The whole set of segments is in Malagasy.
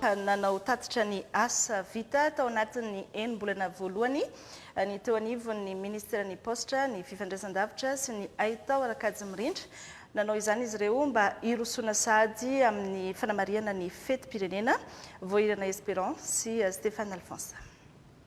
Nanao tatitra ny asa vita tao anatin'ny enim-bolana voalohany ny teo anivon'ny Ministeran'ny Paositra, ny Fifandraisandavitra sy ny Haitao ara-kajy mirindra. Nanao izany izy ireo mba hirosoana sahady amin'ny fanamarihana ny fetim-pirenena, Voahirana Esperant sy Stéphane Alphonse.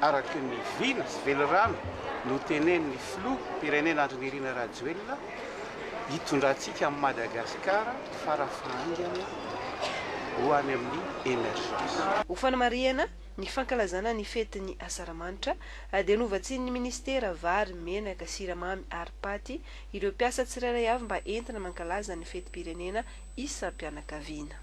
araka ny vina sy velirano notenenin'ny Filoham-pirenena Andry Nirina Rajoelina hitondrantsika an'i Madagasikara fara fahaingana ho any amin'ny emergence. Ho fanamarihana ny fankalazana ny fetin'ny Asaramanitra dia novatsian'ny Minisitera vary, menaka, siramamy ary paty ireo mpiasa tsirairay avy mba entina mankalaza ny fetim-pirenena isam-pianakaviana.